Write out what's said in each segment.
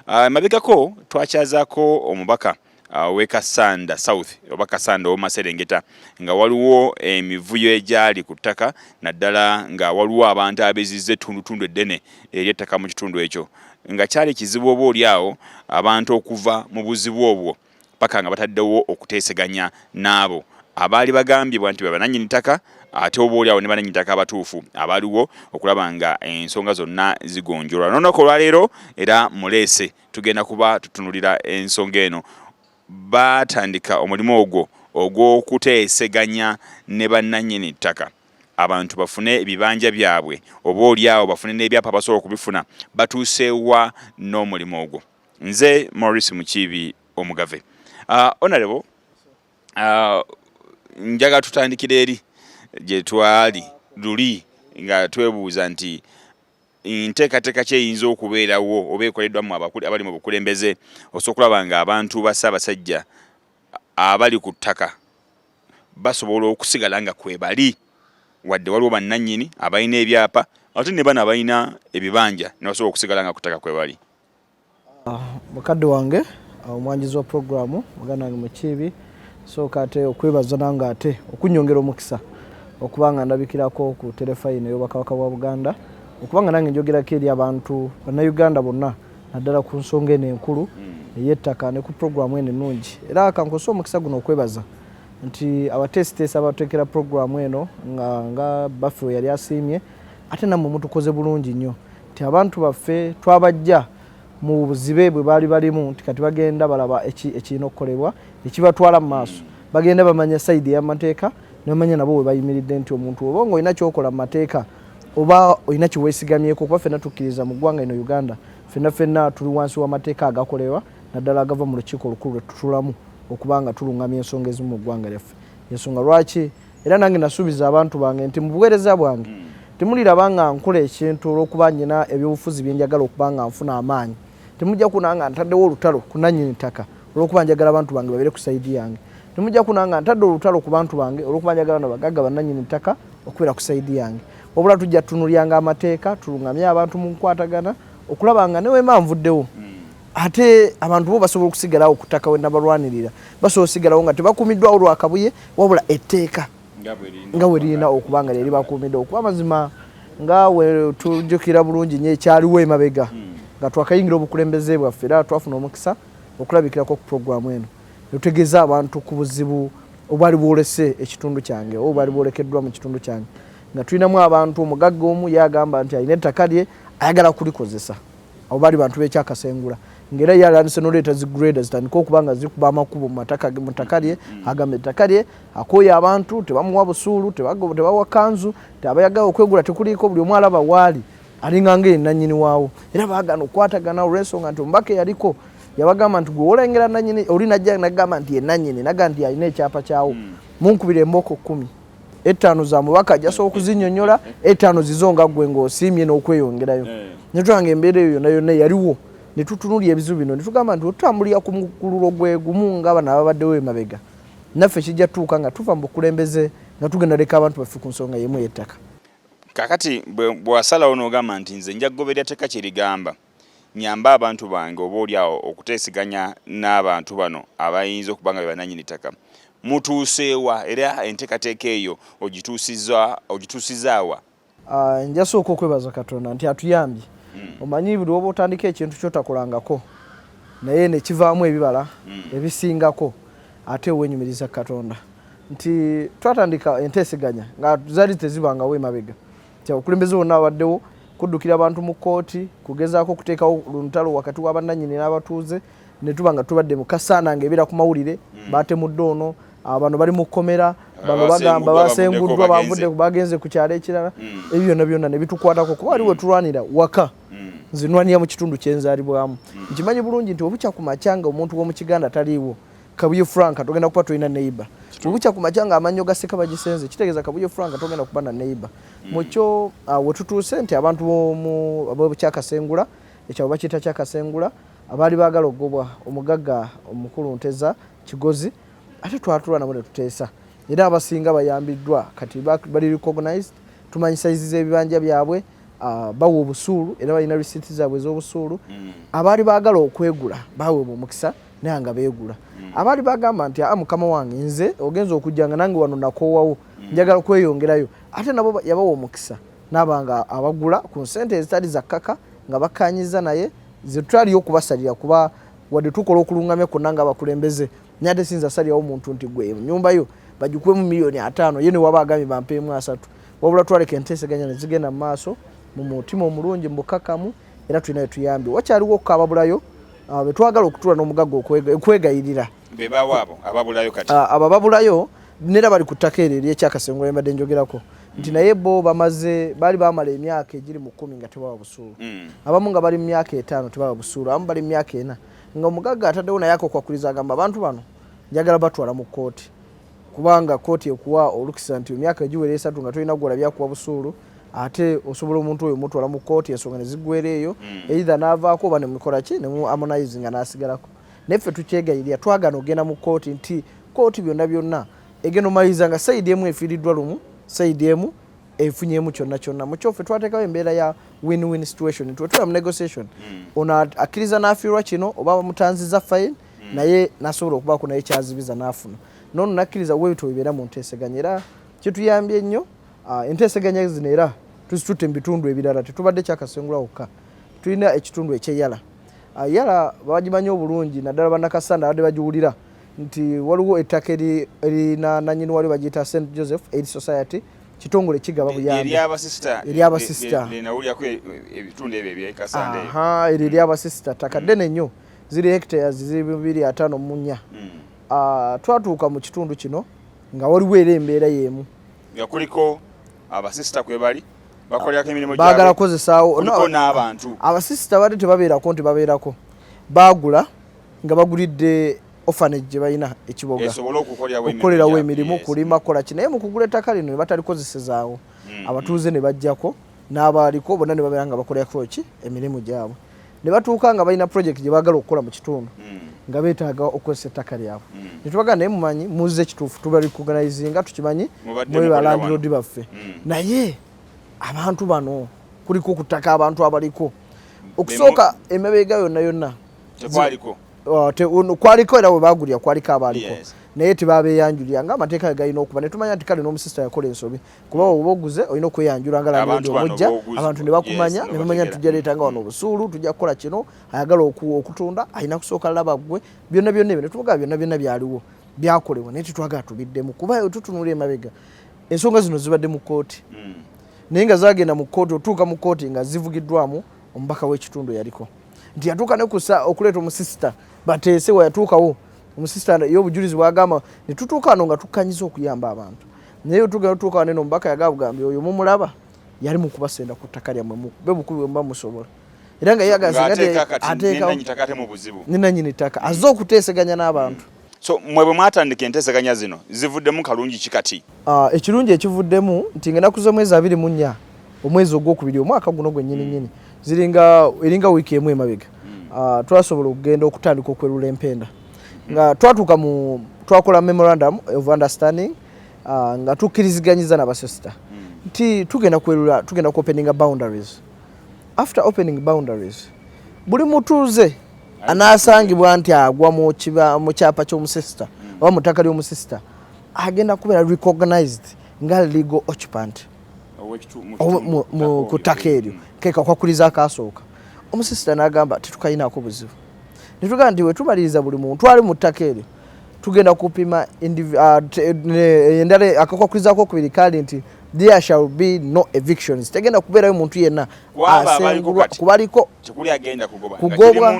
Ah, emabegako twakyazako omubaka ah, we kasanda south oba kasanda owomaserengeta nga waliwo emivuyo egyali ku ttaka naddala nga waliwo abantu abeziza ettundutundu eddene eri ettaka mu kitundu ekyo nga kyali kizibu oba oli awo abantu okuva mu buzibu obwo paka nga bataddewo okuteeseganya n'abo abaali bagambibwa nti bebananyini ttaka ate oba oli awo ne bananyini ttaka abatuufu abaliwo okulaba nga ensonga zonna zigonjolwa nonoka olwaleero era muleese tugenda kuba tutunulira ensonga eno batandika omulimu ogwo ogw'okuteeseganya ne bannanyini ttaka abantu bafune ebibanja byabwe oba olyawo bafune n'ebyapa basobola okubifuna batuuseewa n'omulimu ogwo Nze Maurice Mukiibi Omugave. Uh, honorable uh, njaga tutandikira eri gye twali luli nga twebuuza nti nteekateeka ki eyinza okubeerawo oba ekoleddwa mu abakuli abali mu bukulembeze osobola okulaba nga abantu ba Ssaabasajja abali ku ttaka basobola okusigala nga kwebali wadde waliwo bannannyini abalina ebyapa ate ne bano abalina ebibanja ne basobola okusigala nga ku ttaka kwebali. Ah, mukadde wange ah, omwanjizi wa puroguramu muganda wange mukiibi sooka ate okwebaza nange ate okunyongera omukisa okuba nga ndabikirako ku terefayina ey'obwakabaka bwa buganda okuba nga nange njogerako eri abantu bannayuganda bonna naddala ku nsonga eno enkulu hmm. ey'ettaka ne ku puroguramu eno ennungi era kankozesa omukisa guno okwebaza nti abateesiteesi abateekera puroguramu eno nga nga baffe we yali asiimye ate nammwe mutukoze bulungi nnyo nti abantu baffe twabajja mu buzibe bwe baali balimu nti kati bagenda balaba ekirina okukolebwa ekibatwala mu maaso hmm. bagenda bamanya sayidi eyamateeka nebamanya nabo webayimiridde nti omuntu oba nga olina kyokola mu mateeka oba olina kyewesigamyeko kuba fenna tukkiriza mu ggwanga ino uganda fenna fenna tuli wansi w'amateeka agakolerwa naddala agava mu lukiiko olukulu lwetutulamu okuba nga tulungamya ensonga ezimu mu ggwanga lyaffe ensonga lwaki era nange nasuubiza abantu bange nti mu buweereza bwange mm. temuliraba nga nkola ekintu olwokuba nyina ebyobufuzi byenjagala okuba nga nfuna amaanyi temujja kuna nga ntaddewo olutalo kunanyini ttaka olwokuba njagala abantu bange babere ku saidi yange temujja kuna nga ntadde olutalo ku bantu bange olwokuba njagala nabagagga bananyini ttaka okubeera ku saidi yange wabula tujja tunulyanga amateeka tulungamye abantu mu nkwatagana okulaba nga neweema nvuddewo mm. ate abantu bo basobola okusigalawo okutaka wenabalwanirira basobola osigalawo nga tebakumiddwa olwakabuye wabula etteeka nga weririna okuba nga lyeri bakuumidde okuba amazima nga wetujukira bulungi nyo ekyaliwo emabega hmm. nga twakayingira obukulembeze bwaffe era twafuna omukisa okulabikirako ku puroguramu eno netutegeeza abantu ku buzibu obwali bwolese ekitundu kyange oba bwali bwolekeddwa mu kitundu kyange nga tulinamu abantu omugagga omu yagamba nti alina ettaka lye ayagala kulikozesa abo bali bantu bekyakasengula ngera yalandise noleeta zi grade zitandika okuba nga zikuba amakubo mumataka ge mutaka lye mm-hmm. agamba ettaka lye akoye abantu tebamuwa busuulu tebawa kanzu teabayaga okwegula tekuliiko buli omu alaba waali alinganga ye nanyini waawo era bagana okukwatagana olwensonga nti omubaka eyaliko yabagamba nti gwewolengera nanyini oli najja nagamba nti ye nanyini naga nti alina ekyapa kyawo mm. munkubira embooko kumi ettaano za mubaka ajasa okuzinyonyola ettaano zizo nga ggwe ng'osiimye n'okweyongerayo eh. ne tulanga embeera eyo yonna yonna yaliwo ne tutunulya ebizibu bino ne tugamba nti otutambulira ku mukululo gwe gumu nga bano ababaddewo emabega naffe kijja tuuka nga tuva mu bukulembeze nga tugenda leka abantu baffe ku nsonga yemu yettaka kakati bwewasalawo n'ogamba nti nze nja kugoberera teka kyerigamba Nnyambe abantu bange oboolyawo okuteeseganya n'abantu bano abayinza okuba nga be bannannyini ttaka. Mutuuse wa era enteekateeka eyo ogituusizza wa? Njasooka okwebaza Katonda nti atuyambye. Omanyi buli lw'oba otandika ekintu ky'otakolangako naye ne kivaamu ebibala ebisingako ate weenyumiriza Katonda nti twatandika enteeseganya nga zaali tezibangawo emabega Okulembeze wonna abaddewo kuddukira abantu mu kkooti kugezaako okuteekawo luntalo wakati wa bannanyini n'abatuuze ne tuba nga tubadde mu kasaana ng'ebeera ku mawulire hmm. baatemudde ono bano bali mu kkomera bano bagamba basenguddwa bavudde bagenze ku kyalo ekirala hmm. ebyo byonna byonna ne bitukwatako kuba wali wetulwanira waka hmm. nzinwanira mu kitundu kyenzaalibwamu nkimanyi bulungi nti obukya ku makyanga omuntu w'omu kiganda taliiwo Kabuye Frank togenda kuba tulina neighbor bukya ku makya ng'amannyo ga seka bagisenze kitegeeza Kabuye Frank togenda kuba na neighbor mm. mu kyo ah, we tutuuse nti abantu b'ekyakasengula ekyabo bakiyita kyakasengula abaali baagala okugobwa omugagga omukulu nteza kigozi ate twatula nabo ne tuteesa era abasinga bayambiddwa kati bali recognized tumanyi sayizi z'ebibanja byabwe ah, bawa obusuulu era balina risiiti zaabwe ez'obusuulu mm. abaali baagala okwegula baweebwa omukisa mm. naye nga beegula mm. abaali bagamba nti aa ah, mukama wange nze ogenza okujja nga nange wano nakoowawo mm. njagala kweyongerayo ate nabo yabawa omukisa naaba nga abagula ku nsente ezitali zakkaka nga bakkanyiza naye zetutaliyo okubasalira kuba wadde tukola okulungamya kwonna nga abakulembeze naye ate sinza salirawo omuntu nti gwe nyumba yo bagikuwemu miliyoni ataano ye newaba agambye bampeemu asatu wabula twaleka enteeseganya nezigenda mu maaso mu mutima omulungi mu bukakamu era tulina wetuyambye wakyaliwo okukababulayo ah, betwagala okutula n'omugagga okwegayirira bebawaabo ababulayo kati ah, abo ababulayo nera bali ku ttaka eryo ery'ekyakasengo embadde njogerako nti mm. naye bo bamaze baali bamala emyaka egiri mu kkumi nga tebawa busuulu mm. abamu nga bali mu myaka etaano tebawa busuulu abamu bali mu myaka ena nga omugagga ataddewo naye akokwakuliza agamba abantu bano njagala batwala mu kkooti kubanga kkooti ekuwa olukisa nti emyaka egiwera esatu nga tolina gwolabyakuwa busuulu ate osobola omuntu oyo mutwala mu kooti ensonga nezigwera eyo mm. eitha navaako oba nemukola ki nemu amonaizi nga nasigalako naye ffe tukyegayirira twagana ogenda mu kooti nti kooti byonna byonna egenda omaliriza nga saidi emu efiiriddwa lumu saidi emu efunyemu kyonna kyonna mukyofe twatekawo embeera ya win win situation twetula mu negotiation mm. ono akkiriza nafiirwa kino oba bamutanziza fine mm. naye nasobola okubaako naye kyazibiza nafuna nono nakkiriza webityo bibeera mu nteeseganya era kituyambye nnyo Ah, enteeseganya zino era tuzitutte mu bitundu ebirala tetubadde kyakasengula wokka tulina ekitundu ekyeyala ah, yala bagimanyi obulungi naddala banakasanda abadde bagiwulira nti waliwo ettaka erina nanyini wali bagiyita st joseph aid society kitongole kigaba buyambieryabasisita e, ttaka ddene nnyo ziri hectares ziri bibiri ataano munya hmm. ah, twatuuka mu kitundu kino nga waliwo era embeera y'emu nga kuliko abasisita kwebali bakolerako emirimu bagala kukozesaawo n'abantu abasisita bade tebabeerako nti babeerako baagula nga bagulidde ofanage gye balina ekiboga okukolerawo emirimu kulima kukola ki naye mu kugula ettaka lino ne batalikozesezaawo mm, abatuuze mm. ne bajjako n'abaaliko bonna ne babeera nga bakolerako ki emirimu gyabwe ne batuuka nga balina project gye baagala okukola mu kitundu hmm. nga beetaaga okozesa ettaka lyabwe hmm. ne tubaga naye mumanyi muzze kituufu tuba recognizinga tukimanyi mwe balandiroodi baffe hmm. naye abantu bano kuliko ku ttaka abantu abaliko okusooka emabega yonna yonna kwaliko oh, era we baagulira kwaliko abaaliko naye tebabeeyanjulira nga amateeka ge galina okuba ne tumanya nti kale n'omusisita yakola ensobi kuba oba oguze olina okweyanjula nga landiroodi omujja abantu ne bakumanya ne bamanya nti tujja leeta nga wano obusuulu tujja kukola kino ayagala okutunda alina kusooka laba ggwe byonna byonna ebyo ne tuvuga byonna byonna byaliwo byakolebwa naye tetwagala tubiddemu kuba otutunula emabega ensonga zino zibadde mu kkooti hmm. naye nga zagenda mu kkooti otuuka mu kkooti nga zivugiddwamu omubaka w'ekitundu yaliko nti yatuuka ne kusa okuleeta omusisita bateese weyatuukawo omusisita ye obujulizi bwagamba ne tutuuka ano nga tukkanyiza okuyamba abantu naye otugenda otuuka waneno omubaka yagabugambye oyo mumulaba yali mukubasenda ku ttaka lyammwe mukube bukubi bwemuba musobola era nga yagazinanyini ttaka azze okuteeseganya n'abantu so mwe bwe mwatandika enteeseganya zino zivuddemu kalungi ki kati ah, ekirungi ekivuddemu nti nga enaku z'omwezi abiri mu nnya omwezi ogwokubiri omwaka guno gwennyininyini hmm. ziringa eringa wiiki emu emabega hmm. ah, twasobola okugenda okutandika okwerula empenda nga twatuuka mu twakola memorandum of understanding uh, nga tukkiriziganyiza nabasosita mm. nti tugenda kwerula tugenda ku openinga boundaries after opening boundaries buli mutuuze anasangibwa nti agwa mu kyapa ky'omusisita mm. oba mu ttaka ly'omusisita agenda kubeera recognized nga legal occupant ku ttaka eryo mm. kekakwakuliza akasooka omusisita n'agamba tetukalinaako buzibu netugaa nti wetumaliriza buli muntu ali mu ttaka eryo tugenda kupima ah, eh, endala akakwakuzako okubiri kali nti there shall be no evictions tegenda kubeerayo muntu yenna asengulwa kubaliko kugobwa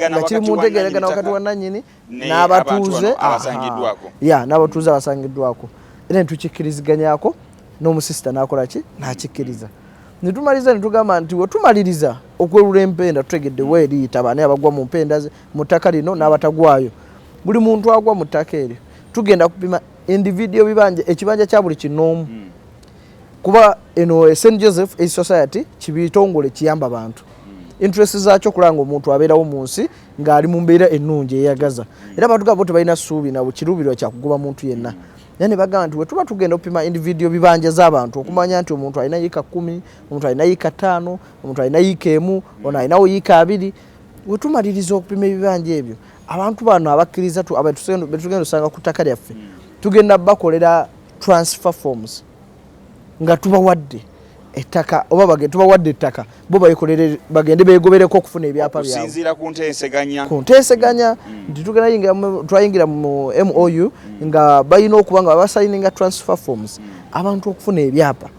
nga kiri mu ntegeregana wakati wa nanyini n'abatuuze ya n'abatuuze abasangiddwako era netukikkiriziganyako n'omusisita n'akola ki n'akikkiriza netumaliza netugamba nti wetumaliriza okwelula empenda tutegedde weeriyita baani abagwa mu mpenda ze mu ttaka lino n'abatagwayo buli muntu agwa mu ttaka eryo tugenda kupima individio bibanja ekibanja kya buli kinoomu hmm. kuba eno eh, st joseph a society kibitongole kiyamba bantu hmm. interest zaakyo okulanga omuntu abeerawo mu nsi ng'ali mu mbeera ennungi eyagaza hmm. era abantu gabo tebalina ssuubi nabo kiruubirwa kyakugoba muntu yenna yani bagamba nti wetuba tugenda opima individual bibanja zabantu okumanya nti omuntu alina yika kumi omuntu alina yika tano omuntu alina yika emu ono alinawo yika abiri wetumaliriza okupima ebibanja ebyo abantu bano abakkiriza betugenda osanga ku ttaka lyaffe tugenda bakolera transfer forms nga tubawadde ettaka oba bagende tubawadde ettaka bo bayikolere bagende beegobereko okufuna ebyapa byabwe okusinziira ku nteeseganya ku nteeseganya mm. Mm. nti tugenda yingira twayingira mu MOU mm. nga balina okuba nga basayininga transfer forms abantu okufuna ebyapa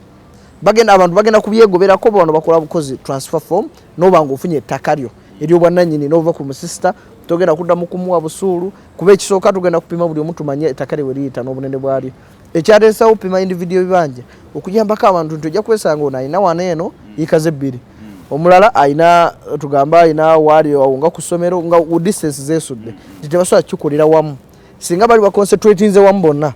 bagenda abantu bagenda kubyegoberako bano bakola bukozi transfer form noba nga ofunye ettaka lyo eryobwannanyini nova ku musisita togenda kuddamu kumuwa busuulu kuba ekisooka tugenda kupima buli omu tumanye ettaka lye we liyita n'obunene bwalyo ekyateesawo pima individio ebibanja okuyambako abantu nti ojja kwesanga ono alina wana eno mm. yikaze ebbiri mm. omulala alina tugambe alina waali awo nga ku ssomero nga distance zesudde mm. nti tebasobola kikolera wamu singa bali baconcentratinze wamu bonna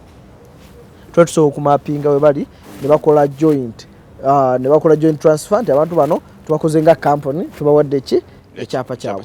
tuba tusobola okumapinga we bali ne bakola joint ah, ne bakola joint transfer nti abantu bano tubakoze nga kampuni tubawadde ki ekyapa kyabwe